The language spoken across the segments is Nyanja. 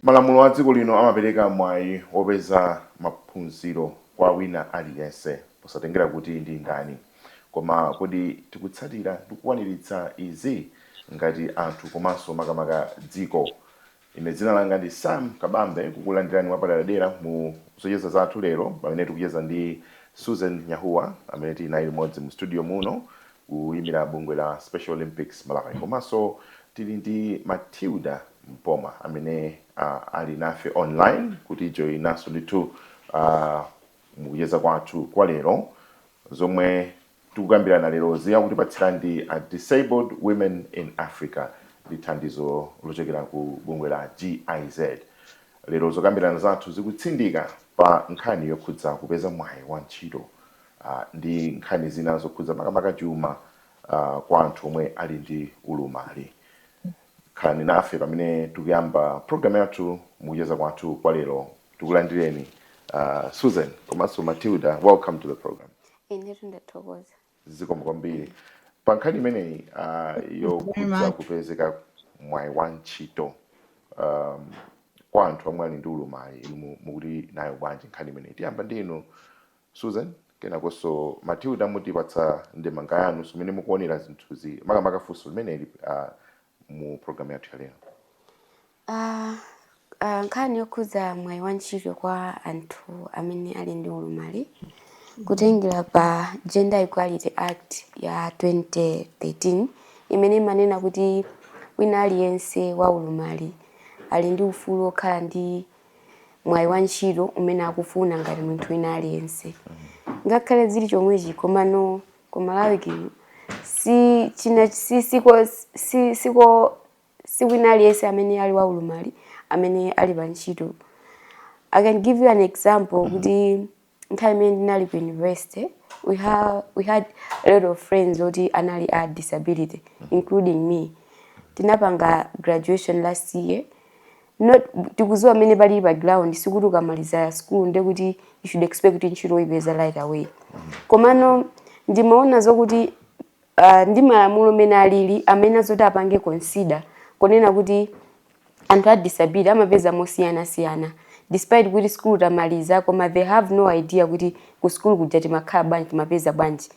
Malamulo a dziko lino amapereka mwayi wopeza maphunziro kwa wina aliyense posatengera kuti ndi ndani. Koma kodi tikutsatira ndi kukwaniritsa izi ngati anthu komanso makamaka dziko? Ine dzina langa ndi Sam Kabambe kukulandirani mwapaderadera mu zocheza zathu lero pamene tikucheza ndi Susan Nyahuwa amene tili naye limodzi mu studio muno kuyimira bungwe la Special Olympics Malawi komanso tili ndi Matilda Mpoma amene a ali nafe online kutijoinanso ndithu a mukucheza kwathu kwa lero. Zomwe tikukambirana lerozi akutipatsira ndi a Disabled Women in Africa ndi thandizo lochokera ku bungwe la GIZ. Lero zokambirana zathu zikutsindika pa nkhani yokhudza kupeza mwayi wa ntchito a ndi nkhani zina zokhudza makamaka chuma a kwa anthu omwe ali ndi ulumali. Khalani nafe pamene tikuyamba program yathu mukucheza kwathu kwa lero. Tikulandireni a Susan komanso Matilda. Welcome to the program. Inetu ndathokoza. Zikomo kwambiri. Pa nkhani imeneyi ah, yokhudza kupezeka mwayi wa ntchito um, kwa anthu omwe ali ndi ulumali inu mu- mukuti nayo bwanji nkhani imeneyi. Tiyamba ndi inu Susan, kenakonso Matilda mutipatsa ndemanga yanu za mmene mukuonera zinthuzi makamaka funso limeneli a mu program yathu ya lero. Ah, ah, nkhani yokhudza mwayi wa ntchito kwa anthu amene ali ndi ulumali kutengera pa Gender Equality Act ya 2013 imene imanena kuti wina aliyense wa ulumali ali ndi ufulu wokhala ndi mwayi wa ntchito umene akufuna ngati munthu wina aliyense ngakhale zili chomwechi komano ku malawi kino si china si siko si siko sikuti wina aliyense amene ali wa ulumali amene ali pa ntchito i can give you an example kuti nthawi imene ndinali ku university we have we had a lot of friends oti anali a disability including me tinapanga graduation last year nde tikudziwa mmene zilili pa ground sikuti ukamaliza school nde kuti you should expect kuti ntchito uyipeza right away komano ndimaona zokuti uh, ndi malamulo mene alili amene zoti apange consider kunena kuti anthu a disability amapeza mosiyana siyana despite kuti school tamaliza koma they have no idea kuti ku school kuja timakhala bwanji timapeza bwanji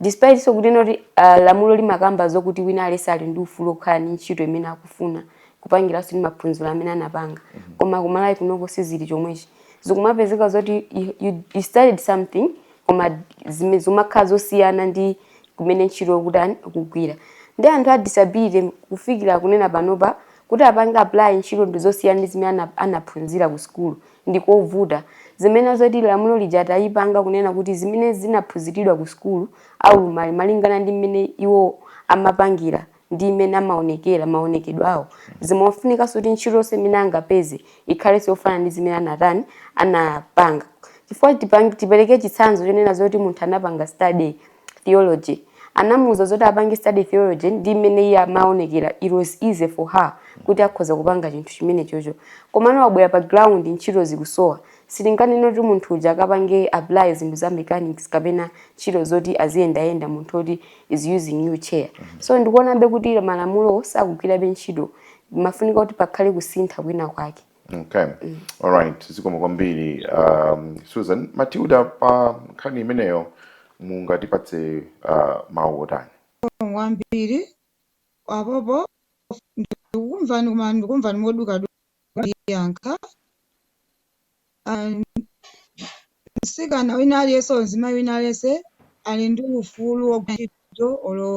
despite zokuti noti uh, lamulo limakamba zokuti wina aliyense ali ndi ufulu okhala ndi ntchito imene akufuna kupangiranso ndi maphunziro amene anapanga mm -hmm. koma ku malawi kunoko sizili chomwechi zikumapezeka zoti you, you, you studied something koma zimakhala zosiyana ndi kumene ntchito akutani akugwira ndi anthu a disability kufikira kunena panopa kuti apange apply ntchito ndi yosiyana ndi zimene ana- anaphunzira ku sukulu ndi kovuta zimene zoti lamulo lija atayipanga kunena kuti zimene zinaphunziridwa ku sukulu aulumali malingana ndi mmene iwo amapangira ndi mmene amaonekera maonekedwe awo zimafunikanso kuti ntchito yonse imene angapeze ikhalenso yofanana ndi zimene anatani anapanga chifukwa tipange- tipereke chitsanzo chonena zoti munthu anapanga study theology anamuuza zoti apange study theology ndi mmene iye amaonekera it was easy for her kuti akhoza kupanga chinthu chimenechocho komano wabwera pa ground ntchito zikusowa Sitinganene kuti munthu uja akapange apply zinthu za mechanics kapena ntchito zoti aziyendayenda munthu oti is using wheelchair. So ndikuonabe kuti malamulowo sakugwirabe ntchito. Pafunika kuti pakhale kusintha kwina kwake. Okay. All right. Zikomo kwambiri um, Susan Matilda pa nkhani imeneyo mungatipatse uh, mawu otani? kwambiri apopo ndikumvani koma ndikumvani modukaduka kundiyankha mtsikana wina aliyense olo mzimayi wina aliyense ali ndi ufulu wogwira ntchito olo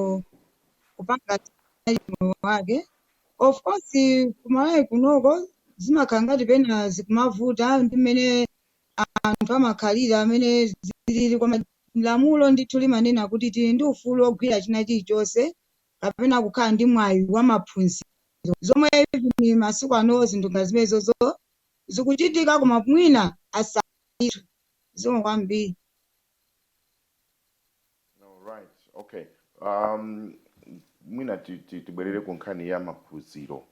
kupanga moyo wake of course kumalawi kunoko zimakhala ngati pena zikumavuta ndi mmene anthu amakhalira mmene zilili koma lamulo ndithu limanena kuti tili ndi ufulu wogwira china chilichonse kapena kukhala ndi mwayi wa maphunziro zomwe even masiku ano zinthu ngati zimenezozo zikuchitika koma mwina asaitu zomwe kwambiri. Alright, okay. Um, mwina ti- ti- tibwerere ku nkhani ya maphunziro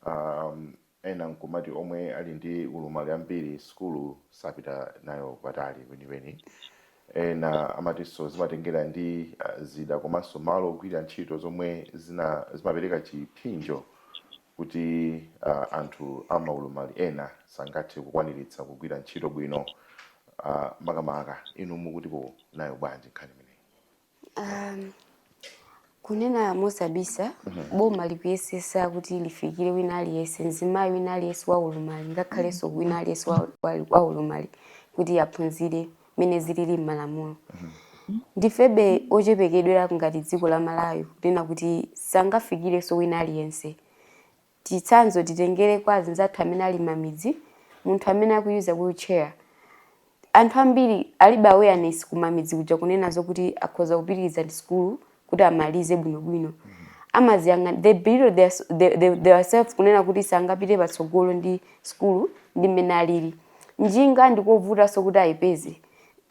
um, Ena nkumati omwe ali ndi ulumali ambiri sukulu sapita nayo patali kwenikweni. Ena amatinso zimatengera ndi zida komanso malo ogwira ntchito zomwe zina zimapereka chiphinjo kuti anthu a maulumali ena sangathe kukwaniritsa kugwira ntchito bwino makamaka. Inu mukutipo nayo bwanji nkhani imeneyi? Um, kunena mosabisa mhm. boma likuyesesa kuti lifikire wina aliyense mzimayi wina aliyense wa ulumali ngakhalenso mhm. wina aliyense wa ulumali kuti aphunzire mmene zilili m'malamulo mhm. ndifebe ochepekedwera ngati dziko la malawi kunena kuti sangafikirenso wina aliyense Chitsanzo titengere kwa azinzathu amene ali mamidzi, munthu amene akuyuza wheelchair, anthu ambiri alibe awareness ku mamidzi kuja kunena zokuti akhoza kupitiliza ndi sukulu kuti amalize bwino bwino. Amaziyang'ana, they belittle their the the theirself kunena kuti sangapite patsogolo ndi sukulu ndi mmene alili. Njinga ndikovutanso kuti ayipeze.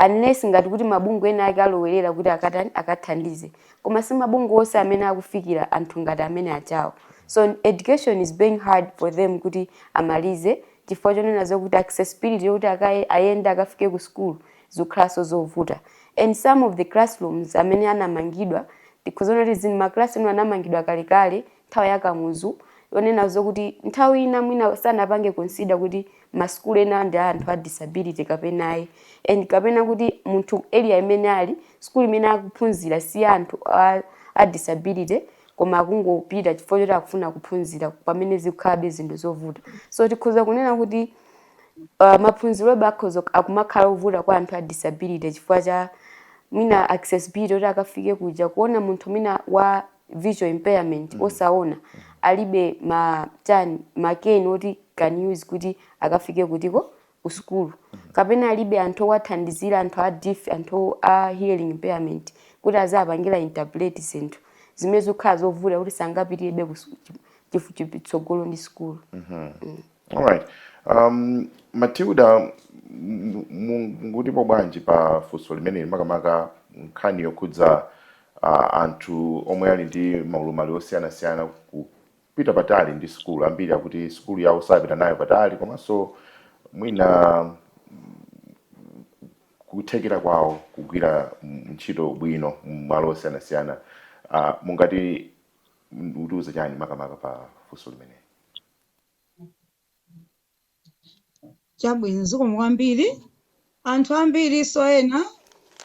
unless ngati kuti mabungwe ena ake alowerera kuti akatani akathandize koma si mabungwe onse amene akufikira anthu ngati amene achawo so education is being hard for them kuti amalize chifukwa chonena zokuti accessibility yokuti akaye ayende akafike ku school zikukhalanso zovuta and some of the classrooms amene anamangidwa tikhoza kuti zin ma classroom anamangidwa kalekale nthawi ya Kamuzu yonena zokuti nthawi ina mwina sanapange consider kuti ma school ena ndi a anthu a disability kapena ayi and kapena kuti munthu area imene ali school imene akuphunzira si ya anthu a, a disability koma akungopita chifukwa choti akufuna kuphunzira pamene zikukhalabe zinthu zovuta so tikhoza kunena kuti uh, maphunzirobe akhoza akumakhala ovuta kwa anthu a disability chifukwa cha mwina accessibility kuti akafike kuja kuona munthu mwina wa visual impairment mm. osaona mm. alibe ma chani ma cane oti can use kuti akafike kutiko ku school mm. kapena alibe anthu owathandizira anthu a deaf anthu a hearing impairment kuti azapangira interpret zinthu zimene zikukhala zovuta kuti sangapitirebe chitsogolo ndi school mm -hmm. mm. All right. Um, Matilda m- m- mungatipo bwanji pa funso limeneli makamaka nkhani yokhudza uh, anthu omwe ali ndi maulumali osiyanasiyana kupita patali ndi sukulu ambiri akuti sukulu yawo sapita nayo patali komanso mwina kuthekera kwawo kugwira mm, ntchito bwino mmalo osiyanasiyana uh, mungati mutiuze chani makamaka pa funso limeneli chabwino zikomo kwambiri anthu ambirinso ena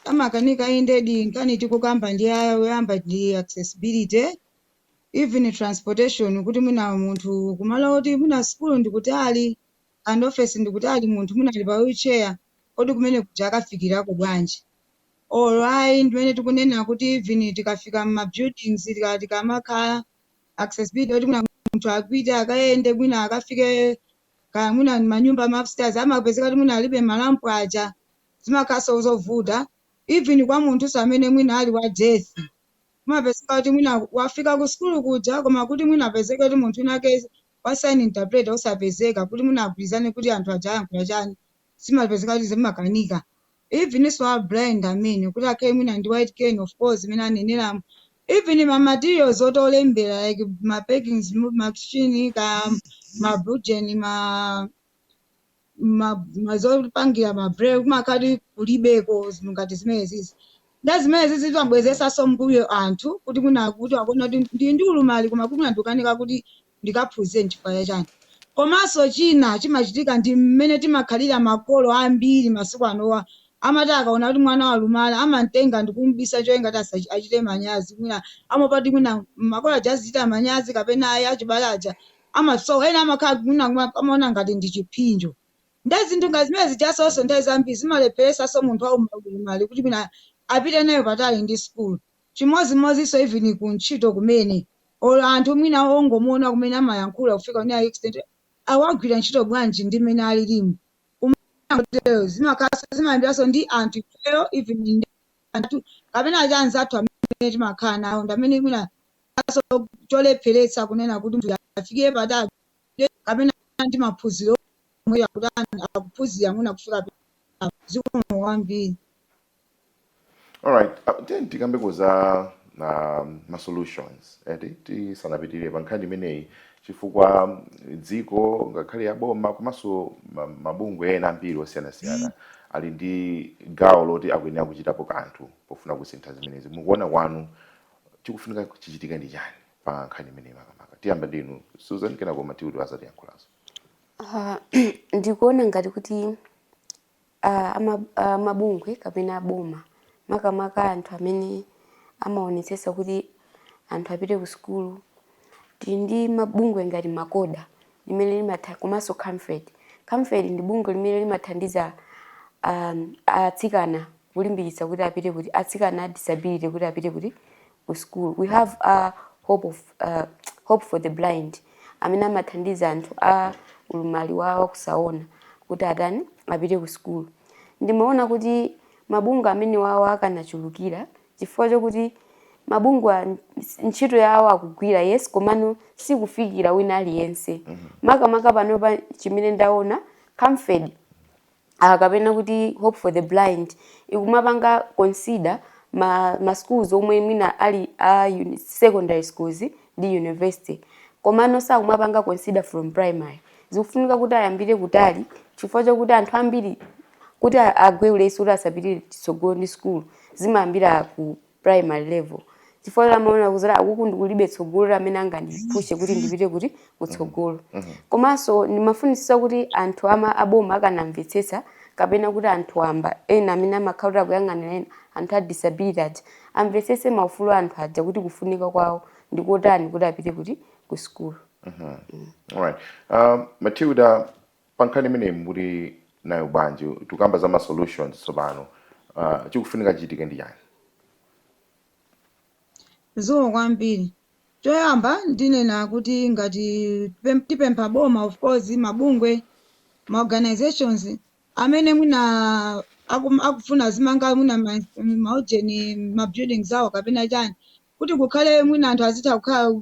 amakanika indedi nkhani tikukamba ndi a- oyamba ndi accessibility even transportation kuti mwina munthu kumalo oti mwina sukulu ndikutali and office ndikutali munthu mwina ali pa wheelchair kodi kumene kuja akafikirako bwanji alright ndimene tikunena kuti even tikafika mma buildings tika- tikamakhala accessibility kuti mwina munthu apite akayende mwina akafike kaya mwina manyumba ma upstairs amapezeka kuti mwina alibe ma ramp aja zimakhalanso zovuta even kwa munthunso amene mwina ali wa deaf kumapezeka kuti mwina wafika ku sukulu kuja koma kuti mwina apezeke kuti munthu winake wa sign interpreter osapezeka kuti mwina agwirizane kuti anthu aja ayankhula chani zimapezeka kuti zimakanika evenso a blind amene kuti akhale mwina ndi white cane of course zimene aneneramo even ma materials oti olembera like ma Perkins machine ka ma bujen ma ma ma zopangira ma braille kumakhala kuti kulibeko zinthu ngati zimenezizi nde zimenezi zimabwezesanso mbuyo anthu kuti mwina kuti akuona kuti ndi ndi ulumali koma kuti mwina ndikukanika kuti ndikaphunzire nchifukwa cha chani komanso china chimachitika ndi mmene timakhalira makolo ambiri masiku anowo amati akaona kuti mwana walumala amamtenga ndikumubisa cholinga kuti asachi achite manyazi mwina amaopadi mwina makolo aja azichita manyazi kapena ayi achibale aja ama so ena amakhala mwina kuma amaona ngati ndi chiphinjo nde zinthu ngati zimene zijazoso nthawi zambiri zimalepheresanso munthu wauma ulumali kuti mwina apite nayo patali ndi school chimodzimodzinso even ku ntchito kumene or anthu mwina ongomuona kumene amayankhula kufika kunena kuti extent awa agwira ntchito bwanji ndi mmene alilimu kumakhala motero zimakhalanso zimayambiranso ndi anthu ifeyo even ndi anthu kapena aja anzathu amene timakhala nawo ndi amene mwina so cholepheretsa kunena kuti munthu uyu afikire patali kapena ndi maphunziro omwe akutani akuphunzira mwina kufika zikomo kwambiri. alright uh, then tikambeko za um, ma solutions eti tisanapitirire pa nkhani imeneyi chifukwa um, dziko ngakhale ya boma komanso ma- mabungwe ena ambiri osiyanasiyana ali ndi gawo loti akuyenera kuchitapo kanthu pofuna kusintha zimenezi mukuona kwanu chikufunika chichitike ndi chani pa nkhani imeneyi makamaka tiyamba ndinu susan kenako matilda azatiyankhulanso Ah, ndikuona ngati kuti a, a, ma, a mabungwe kapena aboma makamaka anthu amene amaonetsetsa kuti anthu apite ku sukulu tili ndi mabungwe ngati MACOHA limene limatha komanso Camfed Camfed ndi bungwe limene limathandiza um, atsikana kulimbikitsa kuti apite kuti atsikana a disability kuti apite kuti ku sukulu. We have hope for the blind amene amathandiza anthu a ulumali wa wakusaona kuti atani apite ku sukulu. Ndimaona kuti mabungwe amene wawo akanachulukira chifukwa chokuti mabungwe ntchito yawo akugwira yes komano sikufikira wina aliyense. Mm-hmm. Makamaka panopa chimene ndaona Camfed a kapena kuti Hope for the Blind ikumapanga consider ma, ma schools omwe mwina ali a secondary schools ndi university komano sakumapanga consider from primary zikufunika kuti ayambire kutali chifukwa chakuti anthu ambiri kuti agwe ulesi kuti asapitire chitsogolo ndi sukulu zimayambira ku primary level chifukwa amaona kunena kuti akuku ndikulibe tsogolo loti amene angandipushe kuti ndipite kuti kutsogolo komanso ndimafunitsitsa kuti anthu ama aboma akanamvetsetsa kapena kuti anthu wamba ena amene amakhala kuti akuyang'anira ena anthu a disability aja amvetsetse maufulu a anthu aja kuti kufunika kwawo ndikotani kuti apite kuti ku sukulu Alright. Um, Matilda, Pa nkhani imeneyi mukuti nayo bwanji tikukamba za ma solutions tsopano uh, chikufunika chichitike ndi chani? Zikomo kwambiri. Choyamba ndinena kuti ngati pem- tipempha boma of course mabungwe ma organizations amene mwina akum- akufuna azimanga mwina ma- maujeni ma buildings awo kapena chani kuti kukhale mwina anthu azitha kukhala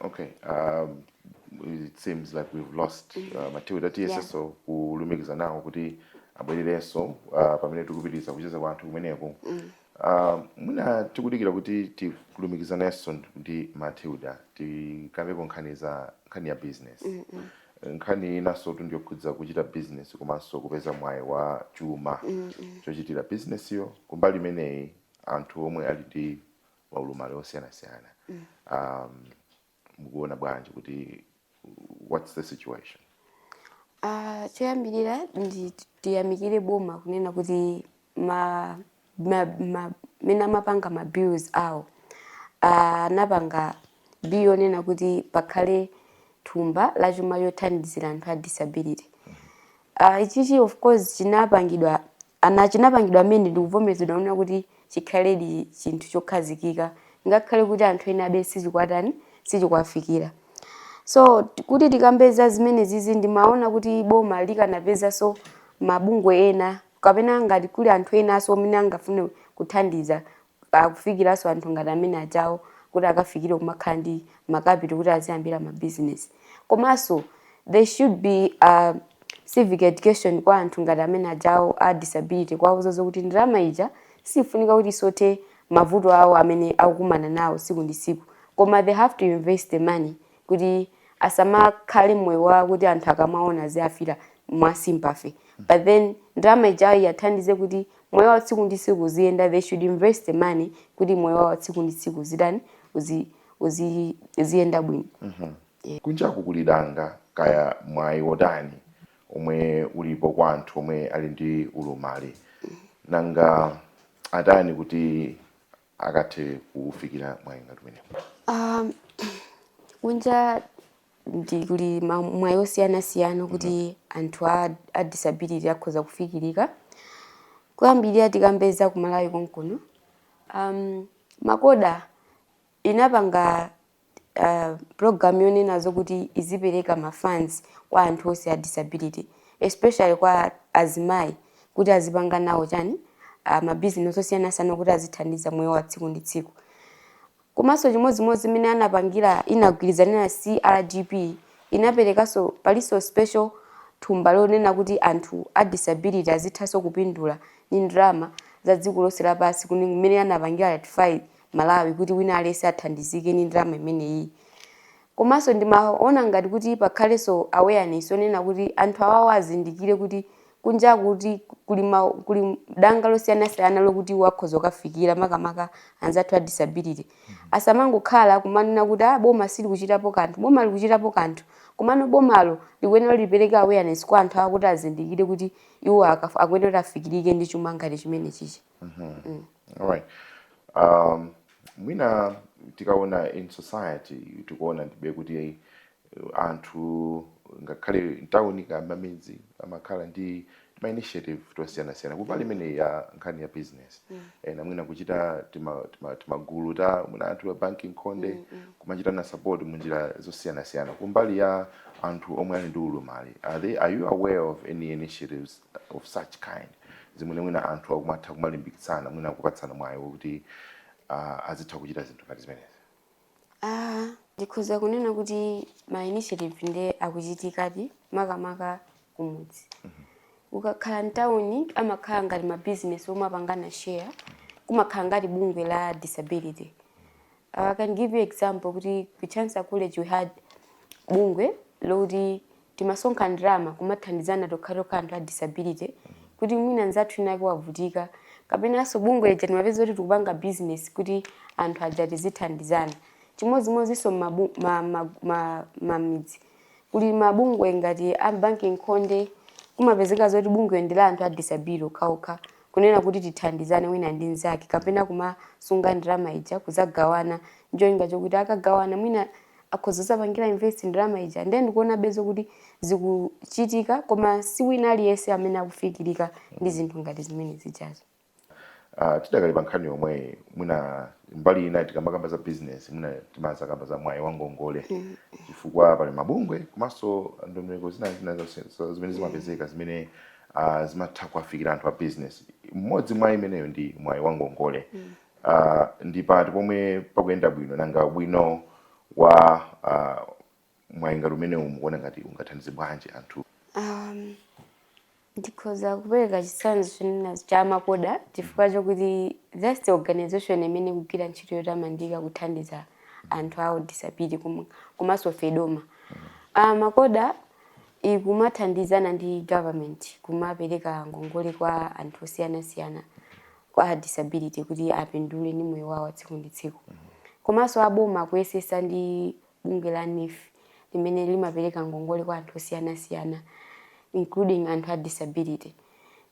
Okay. Um, it seems like we've lost mm-hmm. uh, Matilda yeah. tiyesenso kulumikiza nawo kuti abwererenso uh, pamene tikupitiriza kucheza kwathu kumeneku mm. uh, mwina tikudikira kuti tilumikizanenso ndi Matilda tikambeko nkhani za nkhani ya business mm -hmm. nkhani inansotu ndiyokhudza kuchita business komanso kupeza mwayi wa chuma mm -hmm. chochitira business-yo kumbali imeneyi anthu omwe ali ndi maulumali osiyanasiyana um, mukuona bwanji kuti what's the situation Uh, choyambirira ndithu tiyamikire boma kunena kuti ma, ma, ma, mmene amapanga ma bills awo Ah, anapanga bill yonena kuti pakhale thumba la chuma lothandizira anthu a disability uh, ichichi of course chinapangidwa And chinapangidwa amend ndi kuvomezedwa kunena kuti chikhaledi chinthu chokhazikika ngakhale kuti anthu enabe sichikuwatani, sichikuwafikira. So kuti tikambe za zimenezizi ndimaona kuti boma likanapezanso mabungwe ena kapena ngati kuli anthu enanso amene angafune kuthandiza akufikiranso anthu ngati amene ajawo kuti akafikire kumakhala ndi ma capital kuti aziyambira ma business. Komanso there should be uh, civic education kwa anthu ngati amene ajawo a disability kuwauza zokuti ndalama ija sifunika kuti isove mavuto awo amene akukumana nawo tsiku ndi tsiku koma they have to invest the money kuti asamakhale moyo wa kuti anthu akamawaona aziwamvera mwa sympathy but then ndalama ijayo iwathandize kuti moyo wa tsiku ndi tsiku uziyenda they should invest the money kuti moyo wa tsiku ndi tsiku uzitani uzi uzi ziyenda bwino kunjaku kuli danga kaya mwayi wotani omwe ulipo kwa anthu omwe ali ndi ulumali nanga atani kuti akathe kuufikira mwayi ngati umenewu? Um, kunja ndithu kuli ma- mwayi osiyanasiyana kuti anthu a, a disability akhoza kufikirika kuyambirira tikambe za ku Malawi konkuno um, MACOHA inapanga uh, program yonena zokuti izipereka ma funds kwa anthu onse a disability especially kwa azimayi kuti azipanga nawo chani uh, ah, mabizinesi osiyanasiyana kuti azithandiza moyo wa tsiku ndi tsiku komanso chimodzimodzi imene anapangira inagwirizana CRPD inaperekanso palinso special thumba lonena kuti anthu a disability azithanso kupindula ndi ndalama za dziko lonse lapansi kuyambira mmene anapangira ratify Malawi kuti wina aliyense athandizike ndi ndalama imeneyi. Komanso ndimaona ngati kuti pakhalenso awareness yonena kuti anthu awawa azindikire kuti kunjaku kuti kuli ma, kuli danga losiyanasiyana lokuti iwo akhoza kufikira makamaka anzathu a disability. Asamangokhala kumanena kuti ah boma silikuchitapo kanthu. Boma likuchitapo kanthu. Komano bomalo likuyenera kuti lipereke awareness kwa anthu awa kuti azindikire kuti iwo aka, akuyenera kuti afikirike ndi chuma ngati chimenechichi. Mhm. Mm. All right. Um, mwina tikaona in society tikuona ndithube kuti eh, anthu ngakhale mtawuni kaya mmamidzi amakhala ndi tima initiative tosiyanasiyana kumbali imene ya nkhani ya business Mm. ena mwina kuchita tima- tima- timagulu ta mwina anthu a banki nkhonde Mm, mm. kumachitana support munjira zosiyanasiyana kumbali ya anthu omwe ali ndi ulumali are, they, are you aware of any initiatives of such kind zimene mwina anthu akumatha kumalimbikitsana mwina kupatsana mwayi wokuti uh, azitha kuchita zinthu ngati zimenezi ah, ndikhoza kunena kuti ma initiative nde akuchitikadi makamaka kumudzi mm -hmm ukakhala mtawuni amakhala ngati mabizinesi omwe apangana share kumakhala ngati bungwe la disability I can give you example kuti ku Chancellor College we had bungwe loti timasonkha ndalama kumathandizana tokhatokha anthu a disability kuti mwina nzathu winawake wavutika kapenanso bungwe lija timapeza kuti tikupanga business kuti anthu aja tizithandizana chimodzimodzinso mmamidzi ma, ma, ma, ma, ma, kuli mabungwe ngati a banki nkhonde kumapezeka zoti bungwe ndi la anthu a disability okhaokha kunena kuti tithandizane wina ndi mzake kapena kumasunga ndalama ija kuzagawana ndi cholinga chokuti akagawana mwina akhoza kuzapangira invest ndalama ija ndiye ndikuona bezo kuti zikuchitika koma si wina aliyense amene akufikirika ndi zinthu ngati zimene zijazo Uh, tidakali pa nkhani yomweyi mwina mbali ina tikamakamba za business mwina timadzakamba za mwayi wangongole chifukwa pali mabungwe komanso ndondomeko zina zina zonse- zo- zimene zimapezeka zimene uh, zimatha kuwafikira anthu a business mmodzi mwa imeneyo ndi mwayi wa ngongole mm. uh, ndi pati pomwe pakuyenda bwino nanga ubwino wa uh, mwayi ngati umenewu mukuona ngati ungathandize bwanji anthu um, ndikhoza kupereka chitsanzo chonena cha makoda chifukwa chokuti that's the organization imene ikugwira ntchito yotamandika kuthandiza anthu a disability komanso FEDOMA uh, MACOHA ikumathandizana ndi government kumapereka ngongole kwa anthu osiyana siyana a disability kuti apindule ndi moyo wawo tsiku ndi tsiku komanso aboma akuyesesa ndi bungwe la NEEF limene limapereka ngongole kwa anthu osiyana siyana including anthu a disability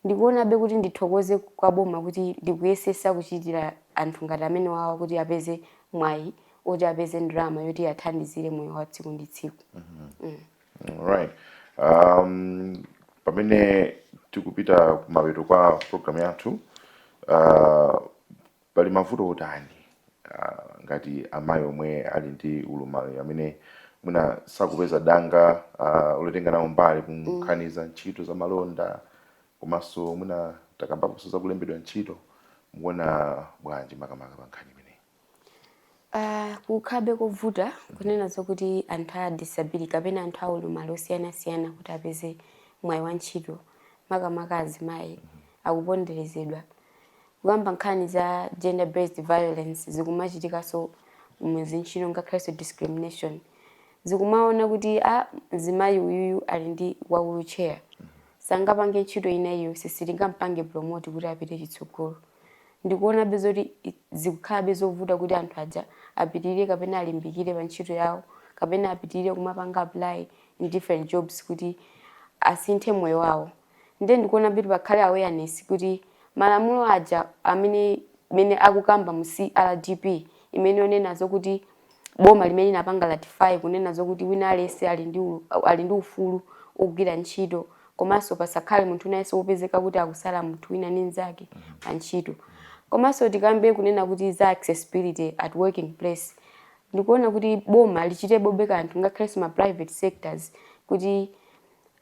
ndikuonabe kuti ndithokoze kwa boma kuti likuyesesa kuchitira anthu ngati amenewawa kuti apeze mwayi oti apeze ndalama yoti athandizire moyo wa tsiku ndi tsiku Alright. Um, pamene tikupita kumapeto kwa program yathu uh, pali mavuto otani uh, ngati amayi omwe ali ndi ulumali amene mwina sakupeza danga uh, lotenga nawo mbali kunkhani za ntchito za malonda komanso mwina takambaponso za kulembedwa ntchito mukuona bwanji makamaka pa nkhani imeneyi Uh, kukhalabe kovuta kunena zokuti anthu a disability kapena anthu a ulumali osiyanasiyana kuti apeze mwayi wa ntchito makamaka azimayi akuponderezedwa kukamba nkhani za gender based violence zikumachitikanso muzintchito ngakhalenso discrimination zikumaona kuti a ah, mzimayi uyuyu ali ndi wa wheelchair sangapange ntchito ina iliyonse sitingampange promote kuti apite chitsogolo ndikuonabe zoti zikukhalabe zovuta kuti anthu aja apitirire kapena alimbikire pa ntchito yawo kapena apitirire kumapanga apply in different jobs kuti asinthe moyo wawo nde ndikuonabe kuti pakhale awareness kuti malamulo aja amene akukamba mu CRDP imene onena zokuti boma limene linapanga ratify kunena zokuti wina aliyense ali ndi ufulu ogwira ntchito komanso pasakhale munthu wina aliyense wopezeka kuti akusala munthu wina ndi mnzake pa ntchito komanso tikambe kunena kuti za accessibility at working place ndikuona kuti boma lichitepobe kanthu ngakhalenso ma private sectors kuti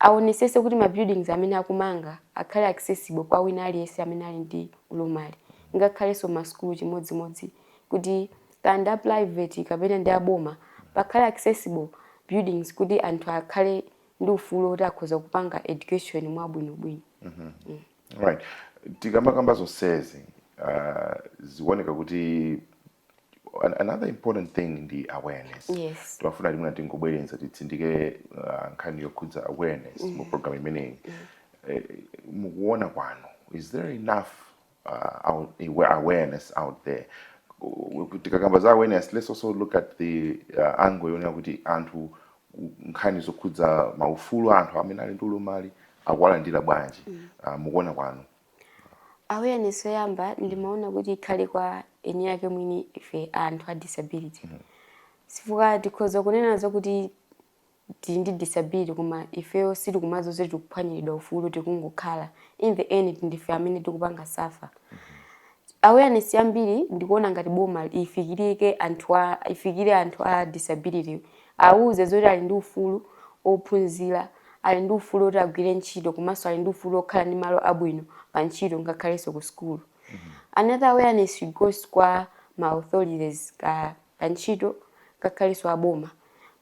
aonesese kuti ma buildings amene akumanga akhale accessible kwa wina aliyense amene ali ndi ulumali ngakhalenso ma school chimodzimodzi kuti kaya ndi a private kapena ndi a boma, pakhale accessible buildings kuti anthu akhale ndi ufulu woti akhoza kupanga education mwabwinobwino. Right. Tikamakamba zonsezi uh, zikuoneka kuti an- another important thing ndi awareness Yes. timafuna timuna tingobwereza titsindike uh, nkhani yokhudza awareness mu program imeneyi Eh, mukuona kwanu is there enough uh, out, awareness out there tikakamba za awareness let's also look at the uh, angle yonena kuti anthu nkhani zokhudza maufulu a anthu amene ali ndi ulumali akuwalandira bwanji mm. uh, mukuona kwanu awareness yoyamba ndimaona kuti ikhale kwa eni ake mwini ife anthu a disability mm -hmm. chifukwa tikhoza kunena zakuti tili ndi disability koma ifeyo sitikumadziwa zoti tikuphwanyiridwa ufulu tikungokhala in the end ndife amene tikupanga suffer awareness yambiri ndikuona ngati boma ifikirike anthu a ifikire anthu a disability awuze zoti ali ndi ufulu wophunzira ali ndi ufulu woti agwire ntchito komanso ali ndi ufulu wokhala ndi malo abwino pa ntchito ngakhalenso ku sukulu another awareness should goes kwa ma authorities ka pa ntchito ngakhalenso a boma.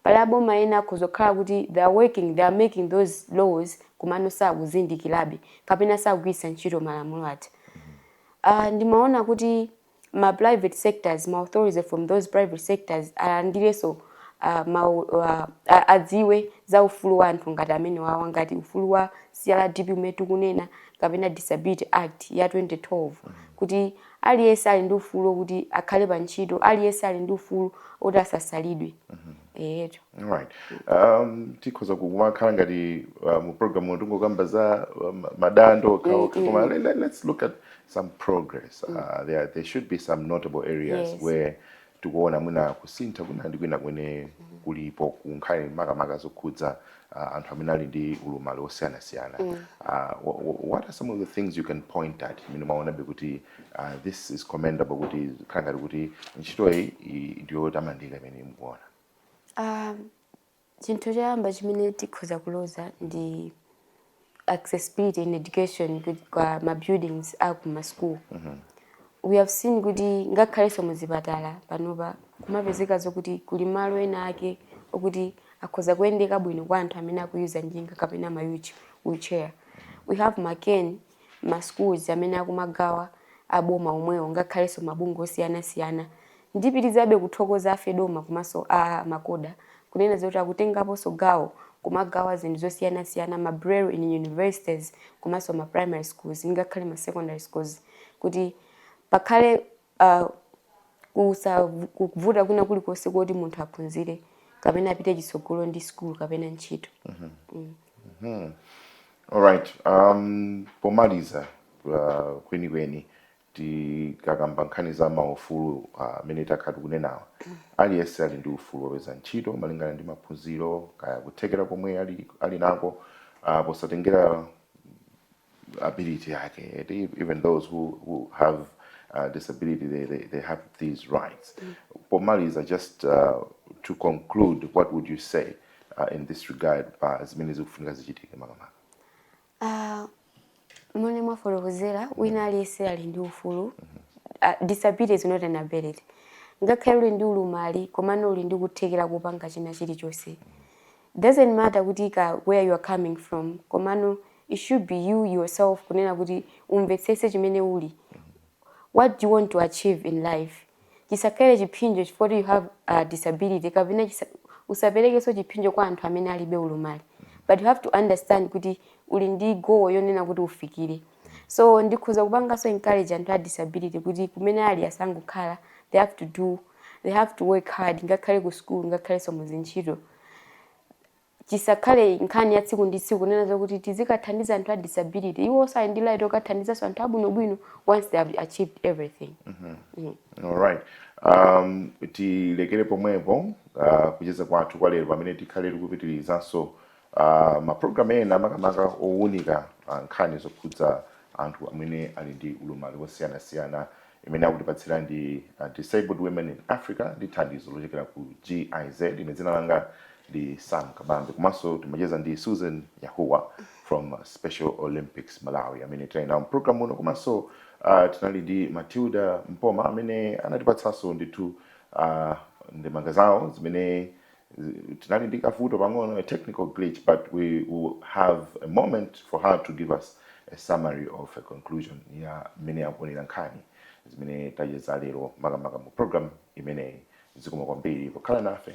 Pali a boma ena okhoza kukhala kuti they are working, they are making those laws komano sakuzindikirabe kapena sakugwiritsa ntchito malamulo aja. Uh, ndimaona kuti ma private sectors, ma authorities from those private sectors alandirenso uh, ma, uh, adziwe za ufulu wa anthu ngati amenewa ngati ufulu wa CRDP umene tikunena kapena Disability Act ya 2012 kuti Aliyense ali ndi ufulu okuti akhale pa ntchito, aliyense ali ndi ufulu oti asasalidwe. Alright. Um, tikhoza kumakhala ngati uh, mu program uno tingokamba za uh, ma- madando Mm, okhaokha mm, koma mm. let, let, let's look at some progress uh, there, there should be some notable areas Yes. where tikuona mwina kusintha kwina ndi kwina kwene kulipo kunkhani makamaka zokhudza uh, anthu amene ali ndi ulumali wosiyanasiyana mm. uh, what are some of the things you can point at imene mwaonabe kuti uh, this is commendable kuti khala ngati kuti ntchitoyi ndiyotamandika imene mukuona um, Chinthu choyamba chimene tikhoza kuloza ndi accessibility in education kwa ma buildings a ku ma school. Mm -hmm. We have seen kuti ngakhalenso mu zipatala panopa kumapezeka zokuti kuli malo ena ake okuti akhoza kuyendeka bwino kwa anthu amene akuyuza njinga kapena ma wheelchair. We have Maken ma schools amene akumagawa a boma omwewo ngakhalenso mabungwe osiyana siyana ndipitizabe kuthokoza a Fedoma komanso a Macoha kunena zoti akutengaponso gawo kumagawa zinthu zosiyana siyana ma Braille in universities komanso ma primary schools ngakhale ma secondary schools kuti pasakhale kusa kuvuta kwina kulikonse koti munthu aphunzire kapena apite chitsogolo ndi school kapena ntchito. Hmm. Alright. Um, pomaliza uh, kwenikweni tikakamba nkhani za maufulu amene uh, takhala tikunenawa aliyense ali ndi ufulu wopeza ntchito malingana ndi maphunziro kaya kuthekera komwe ali, ali nako uh, posatengera ability yake eti even those who, who have uh, disability they, they, they have these rights mm. pomaliza just uh, to conclude what would you say uh, in this regard pa uh, zimene zikufunika zichitike makamaka uh, momwe mwafotokozera wina mm. aliyense ali ndi ufulu mm -hmm. uh, disability is not inability ngakhale uli ndi ulumali komano uli ndi kuthekera kupanga china chilichonse mm -hmm. It doesn't matter kuti ka where you are coming from komano it should be you yourself kunena kuti umvetsetse chimene uli what do you want to achieve in life chisakhale chiphinjo chifukwa choti you have a disability kapena chisa, usaperekenso chiphinjo kwa anthu amene alibe ulumali but you have to understand kuti uli ndi goal yonena kuti ufikire so ndikhoza kupanganso encourage anthu a disability kuti kumene ali asangokhala they have to do they have to work hard ngakhale ku school ngakhalenso muzintchito chisakhale nkhani ya tsiku ndi tsiku kunena zokuti tizikathandiza anthu a disability iwonso ali ndi right yokathandizanso anthu abwinobwino once they have achieved everything mm -hmm. mm. all right um, tilekere pomwepo uh, kucheza kwathu kwa lero pamene tikhale tikupitirizanso Uh, mapulogalamu ena makamaka owunika uh, nkhani zokhudza anthu amene ali ndi ulumali wosiyanasiyana imene akutipatsira ndi uh, Disabled Women in Africa ndi thandizo lochokera ku GIZ. Ine dzina langa ndi Sam Kabambe, komanso timacheza ndi Susan Yahuwa from uh, Special Olympics Malawi amene tinali nawo mpulogalamu ino, komanso uh, tinali ndi Matilda Mpoma amene anatipatsanso ndithu uh, ndemanga zawo zimene Tinali ndi kavuto pang'ono, a technical glitch, but we will have a moment for her to give us a summary of a conclusion ya mmene akuonera nkhani zimene tacheza lero makamaka mu program imeneyi. Zikomo kwambiri pokhala nafe.